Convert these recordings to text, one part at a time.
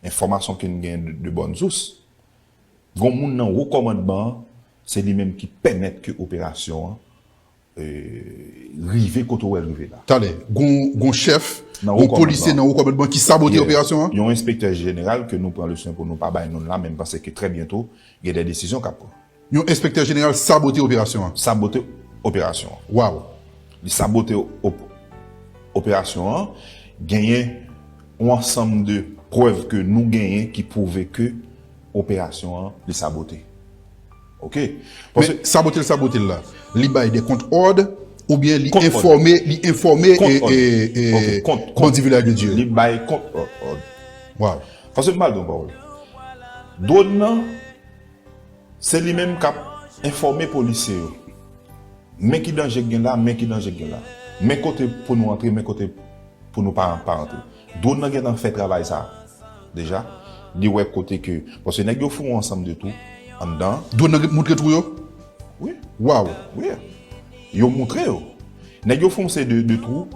Enfòmasyon ke n gen de bòn sous, gon moun nan wo kòmandman an, se li menm ki pèmèt ke operasyon an rive kote wè l rive la. Talè, gon chèf, gon polisye nan wo kòmandman ki sabote operasyon an? Yon enspektè jeneral ke nou pran le swen pou nou pa bay non l la men m panse ke trè byento gen de desizyon k ap pran. Yon enspektè jeneral sabote operasyon an? Sabote operasyon an. Waw! Li sabote operasyon an. Genyen yon ansanm de prèv ke nou genyen ki pwouve ke operasyon an li sabote. Ok. Paske sabotel sabotel la, li bay de kont òd oubyen li enfòme, li enfòme bandi Vilaj de Dye. Li bay kont òd. Waw. Paske m'bal don pawòl. Dwòn nan, se li menm k'ap enfòme polisye yo. Men ki danje ki gen la, men ki danje ki gen la. Men kote pou nou antre, men kote pou nou pa antre. Drone nan gentan fè travay sa deja li wè kote ke paske nèg yo foun ansanm de tou anndan. Drone nan moutre twou yo? Wi. Waw. Wi. Yo moutre yo. Nèg yo fè yon seri de twou,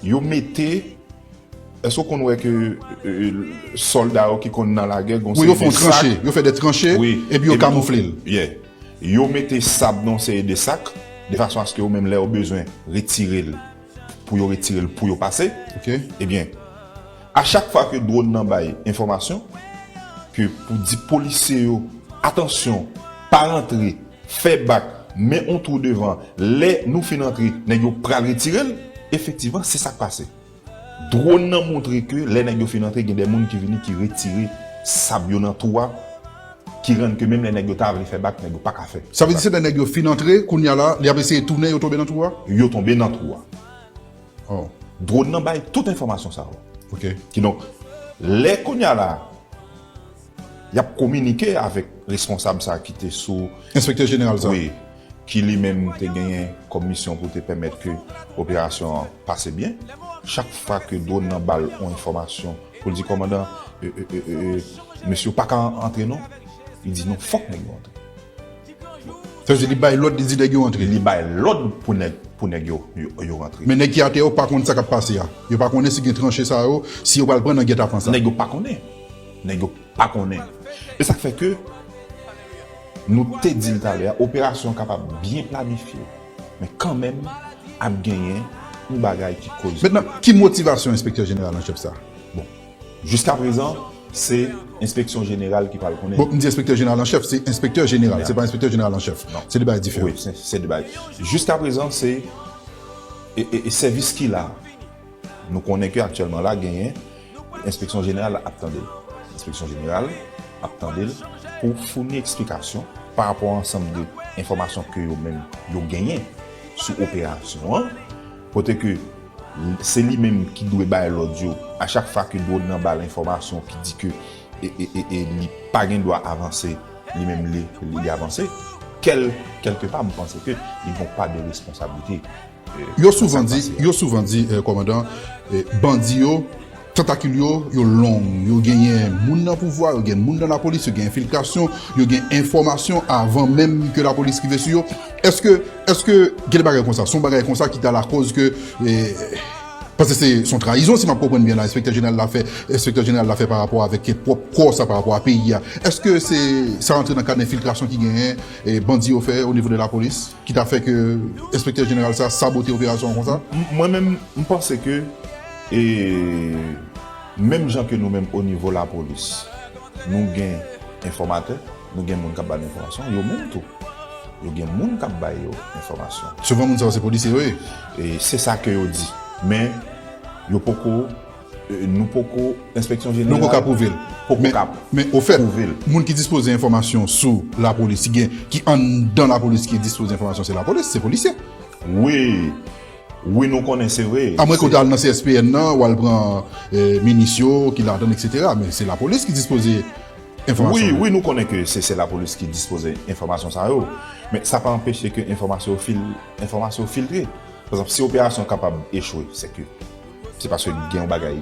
yo mete èske ou konn wè ke sòlda yo ki konn nan lagè gon seri de sak. Wi yo fè yon tranche, yo fè de tranche epi yo kamoufle l. Yeah. Yo mete sab nan yon seri de sak de fason aske yo menm lè yo bezwen retire l pou yo retire l pou yo pase ebyen a chak fwa ke dwòn nan bay enfòmasyon ke pou di polisye yo atansyon pa rantre fè bak men on twou devan lè nou fin antre nèg yo pral retire l efektivman se sak pase dwòn nan montre ke lè nèg yo fin antre gen de moun ki vini ki retire sab yo nan twou a. ki rann ke menm lè nèg yo ta vle fè bak nèg yo paka fè. Sa vle di se lè nèg yo fin antre kounya la li ap eseye tounen yo tonbe nan twou a? Yo tonbe nan twou a. Oh. Drone nan bay tout enfòmasyon sa yo. Ok. Kidonk, lè kounya la y ap kominike avèk responsab sa ki te sou. Enspektè jeneral sa. Wi. ki li menm te genyen kòm misyon pou te pèmèt ke operasyon an pase byen, chak fwa ke dwòn nan ba l yon enfòmasyon pou l di kòmandan mesye yo pa ka antre non, li di non fòk nèg yo antre. Sa vle di li bay lòd li di nèg yo antre. Li bay lòd pou nèg yo antre. Men nèg ki atè yo pa konn sa k ap pase a. Yo pa konnen si gen tranche sa yo, si yo pral pran nan gètapan sa. Nèg yo pa konnen. Nèg yo pa konnen. E sa k fè ke. Nou te di l talè a, operasyon an kapab byen planifye, men kanmenm ap genyen yon bagay ki koze. Mentnan, ki motivasyon enspektè jeneral anchèf sa a? Bon, jiskaprezan, se enspeksyon jeneral ki pral konnen. Bon, m di enspektè jeneral anchèf, se enspektè jeneral, se pa enspektè jeneral anchèf. Se de bagay diferan. Wi, se de bagay. Jiskaprezan, se sèvis ki la a. Nou konnen ke aktyèlman la genyen enspeksyon jeneral ap tande l. Enspeksyon jeneral ap tande l pou founi eksplikasyon pa rapò a ansanm de enfòmasyon ke yo menm yo genyen sou operasyon an, kote ke se li menm ki dwe bay lòd yo a chak fwa ke dwòn nan ba l enfòmasyon ki di ke li pa gen dwa avanse li menm li avanse. Kèlke pa m panse ke li gen yon pa de responsablite. Yo souvan di, yo souvan di, kòmandan, bandi yo, tantakil yo, yo long. Yo genyen moun nan pouvwa, yo gen moun nan lapolis, yo gen enfiltrasyon, yo gen enfòmasyon avan menm ke lapolis rive sou yo. Èske, èske gen de bagay konsa? Son bagay konsa ki ta lakòz ke, paske se son trayizon si m ap konprann byen la enspektè jeneral la fè, enspektè jeneral la fè pa rapò avèk pwòp kò sa, pa rapò a peyi a. Èske se sa rantre nan kad enfiltrasyon ki genyen bandi yo fè onivo de lapolis? Ki ta fè ke enspektè jeneral sa sabote operasyon an konsa? Mwen menm, m panse ke e menm jan ke nou menm o nivo lapolis, nou gen enfòmatè, nou gen moun k ap ba nou enfòmasyon, yo menm tou, yo gen moun k ap ba yo enfòmasyon. Souvan moun sa yo se polisye yo ye. E se sa ke yo di. Men, yo poko Nou poko, enspeksyon jeneral. Nou poko ka pwouve l. Poko ka pwouve l. Men ofèt, moun ki dispoze enfòmasyon sou lapolis, si gen, ki anndan lapolis ki dispoze enfòmasyon se lapolis, se polisye. Wi. Wi nou konnen se vre. Amwen ke w ta al nan CSPN nan, w al pran minis yo ki ladan l eksetera. Men se lapolis ki dispoze enfòmasyon sa yo. Wi. Wi nou konnen ke se lapolis ki dispoze enfòmasyon sa yo. Men sa pa anpeche ke enfòmasyon yo filtre. Pwazanp, si operasyon kapab echwe, seke. Se paske gen yon bagay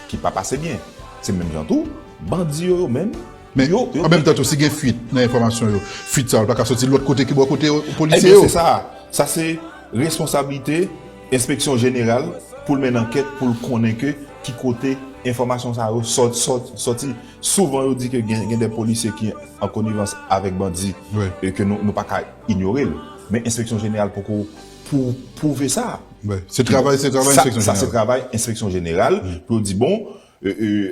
ki pa pase byen. Se menm jan tou, bandi yo yo menm, Men, an menm tan tou, si gen fuit nan enfòmasyon yo, fuit sa yo pa ka soti lòt kote ki bò kote polisye yo? Ebyen, se sa. Sa se responsablite enspeksyon jeneral pou l menn ankèt pou l konnen ke ki kote enfòmasyon sa yo soti. Souvan yo di ke gen de polisye ki an konivans avèk bandi e ke nou pa ka inyore l. Men enspeksyon jeneral poko. pou pwouve sa. Se travay enspeksyon jeneral. Sa se travay enspeksyon jeneral pou yo di bon,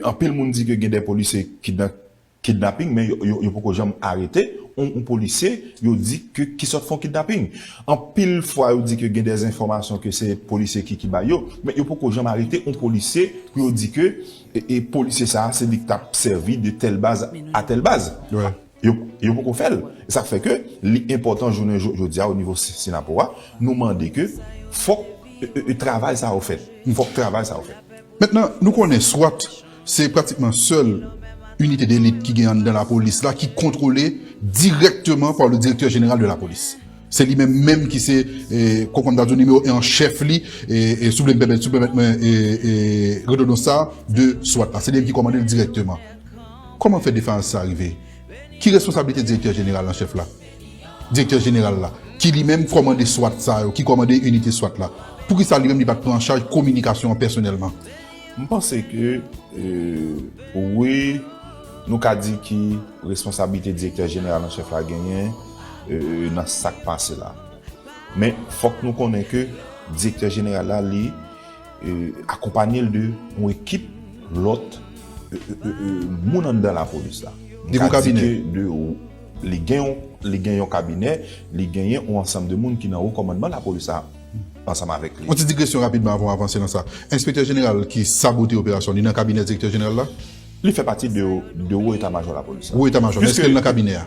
anpil moun di ke gen de polisye ki nan kidnaping men yo poko janm arete yon polisye yo di ke ki sot fon kidnaping. Anpil fwa yo di ke gen de enfòmasyon ke se polisye ki bay yo, men yo poko janm arete yon polisye pou yo di ke polisye sa se li k tap sèvi de tèl baz a tèl baz. Yo poko fè l. E sa k fè ke li enpòtan jounen jodi a o nivo Synapoh a, nou mande ke fòk travay sa yo fèt. Fòk travay sa yo fèt. Mentnan, nou konnen swat se pratikman sèl inite delit ki gen anndan lapolis la ki kontwole dirèkteman pa le direktè jeneral de lapolis. Se li menm menm ki se, kòm m ta di w, nimewo 1 an chèf li, si w vle m pèmèt, si w pèmèt mwen redondans sa a, de swat la. Se li menm ki kòmande l dirèkteman. Kòman fè defayans sa rive? Ki responsablite Direktè Jeneral an Chèf la? Direktè Jeneral la, ki li menm kòmande swat sa yo, ki kòmande inite swat la, poukisa li menm li pa t pran an chaj kominikasyon an pèsonèlman? M panse ke, wi, nou ka di ki responsablite Direktè Jeneral an Chèf la genyen nan sa k pase la. Men, fòk nou konnen ke Direktè Jeneral la li. Akonpanye l de yon ekip lòt moun anndan lapolis la. Li gen yon kabinè? Li gen yon kabinè, li genyen yon ansanm de moun ki nan wo kòmandman lapolis la ansanm avèk li. Yon ti digresyon rapidman avan w avanse nan sa. Enspektè jeneral ki sabote operasyon, li nan kabinè direktè jeneral la? Li fè pati de wo eta majò lapolis la. Wo eta majò, men èske li nan kabinè a?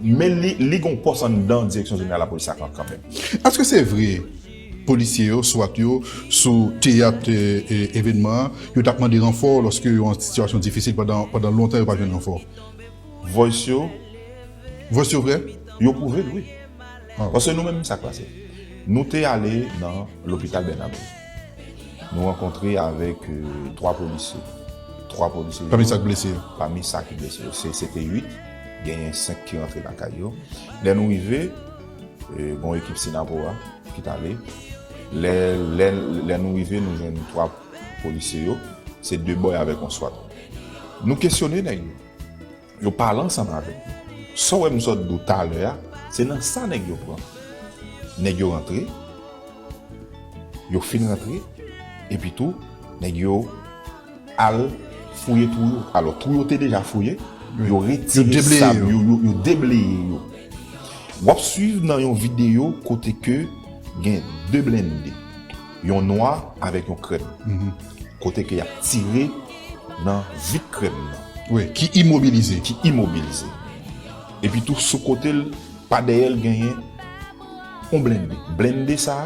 Men li gen yon pòs anndan direksyon jeneral lapolis la kanmenm. Èske se vre Polisye yo, swat yo, sou teyat evènman an, yo tap mande ranfò lòske yo an sitiyasyon difisil pandan lontan yo pa jwenn ranfò. Voice yo. Voice yo vrè? Yo prouve l wi. Paske nou menm sa k pase? Nou te ale nan lopital Bernabé. Nou rankontre avèk 3 polisye. 3 polisye yo. Pami sa k blese yo. Pami sa ki blese yo. Se te 8, genyen 5 ki rantre lakay yo. Lè nou rive. Bon ekip Sinapo a ki t ale. Lè nou rive, nou jwenn 3 polisye yo. Se 2 bòy avèk yon swat. Nou kesyone nèg yo. Yo pale ansanm avèk nou. Sa w wè m sot di w talè a, se nan sa nèg yo pran. Nèg yo rantre. Yo fin rantre. Epitou, nèg yo. al fouye twou yo alò twou yo te deja fouye yo retire sab yo yo debleye yo wap swiv nan yon video kote ke gen 2 blende yon nwa avèk yon krèm kote ke yap tire nan vit krèm nan wi ki imobilize ki imobilize epi tou sou kotel pa dèyèl genyen yon blende blende sa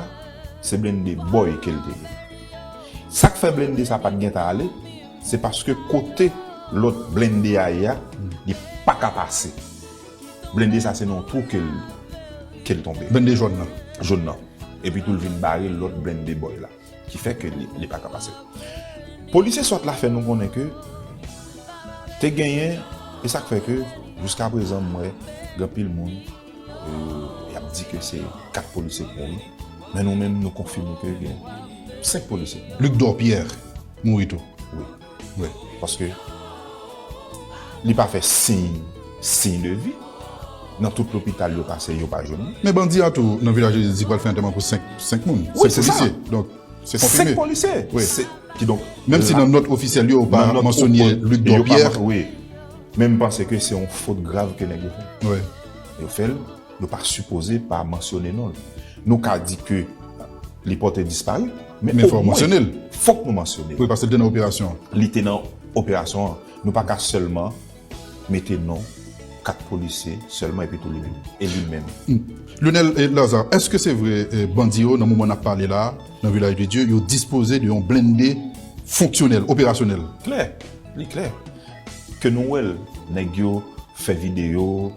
se blende bòy kel te ye. Sak fè blende sa pat gentan ale se paske kote lòt blende a ye a li paka pase blende sa se nan yon twou kel kel tonbe. Blende jòn nan. Jòn nan. Epi tou l vin bare lòt blende bòy la ki fè ke li paka pase. Polisye swat la fè nou konnen ke te genyen e sak fè ke jiskaprezan m wè gen anpil moun. Y ap di ke se 4 polisye ki mouri, men nou menm nou konfime ke gen 5 polisye ki mouri. Luc Dorpierre mouri tou? Wi. Wi. Paske li pa fè siy siy de vi. Nan tout lopital yo pase yo pa jwenn li. Men bandi a tou nan Vilaj Jezi di pral fè antèman pou 5 5 moun. Wi, se sa. 5 polisye. Donk se konfime. 5 polisye. Wi. Kidonk. Menm si nan nòt ofisyèl yo yo pa mansonye Luc Dorpierre. Yo pa mansonye, wi. Men m panse ke se yon fot grav ke nèg yo fè. Yo fè l, yo pa sipoze pa mansyone non l. Nou ka di ke li pòte dispari, men o mwen, fòk nou mansyone l. Wi, paske li te nan operasyon an. Li te nan operasyon an. Nou pa ka sèlman mete non 4 polisye sèlman epitou li menm. E li menm. Lyonel Lazarre, èske se vre bandi yo nan moman n ap pale la a, nan Vilaj de Dye, yo dispoze de yon blende fonksyonèl, operasyonèl? Klè. Li klè ke nou wè l, nèg yo fè videyo,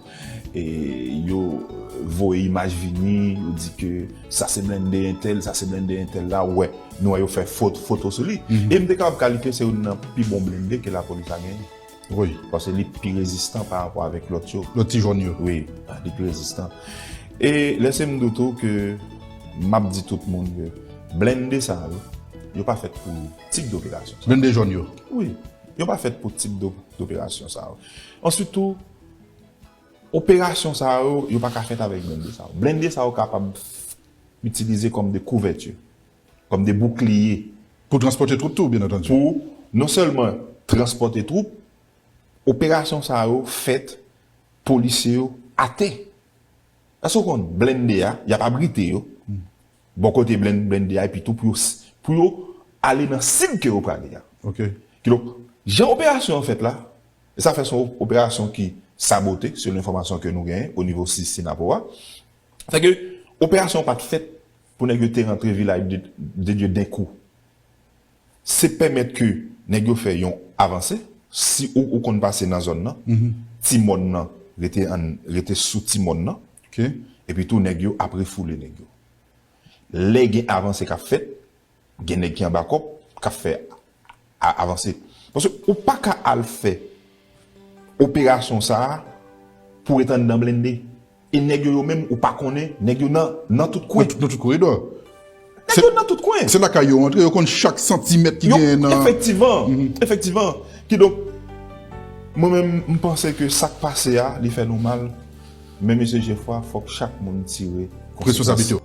yo voye imaj vini, yo di ke sa se blende entèl, sa se blende entèl la, ou wè, nou wè yo fè foto sou li. E m te kapab kalifye se youn nan pi bon blende ke lapolis la genyen. Wi. Paske li pi rezistan pa rapò avèk lòt yo. Lòt ti jòn yo. Wi. Li pi rezistan. E lese m di w tou ke m ap di tout moun ke blende sa yo, yo pa fèt pou. tip doperasyon sa yo. Blende jòn yo? Wi. Yo pa fèt pou tip doperasyon sa yo. Answit tou, operasyon sa yo, yo pa ka fèt avèk blende sa yo. Blende sa yo kapab itilize kòm de kouvèti, kòm de boukliye. Pou transpòte twoup tou, byen antandi. Pou non sèlman transpòte twoup, operasyon sa yo fèt polisye yo atè. Èske ou konn blende a, y ap abrite yo. Bò kote blenndvip tou pou yo ale nan sib ke yo prale a. Kidonk, jan operasyon an fèt la, e sa fè son operasyon ki sabote selon enfòmasyon ke nou genyen o nivo Sinapo a, se ke operasyon an pat fèt pou nèg yo te rantre Vila de Dye denkou. se pèmèt ke nèg yo fè yon avanse, si ou ou konn pase nan zòn nan, ti mòn nan rete an rete sou ti mòn nan, epi tou nèg yo ap refoule nèg yo. Lè gen avanse k ap fèt, gen nèg ki anba kòb k ap fè a avanse. Paske ou pa ka al fè operasyon sa a pou w ret anndan blende. E nèg yo yo menm ou pa konnen nèg yo nan nan tout kwen. Nan tout koridò. Nèg yo nan tout kwen. Se lakay yo antre, yo konn chak santimèt ki genyen nan. Efektivan, efektivan. Kidonk, mwen menm m panse ke sa k pase a li fè nou mal, men mesye Jefwa fòk chak moun tire konsekans. Responsablite yo.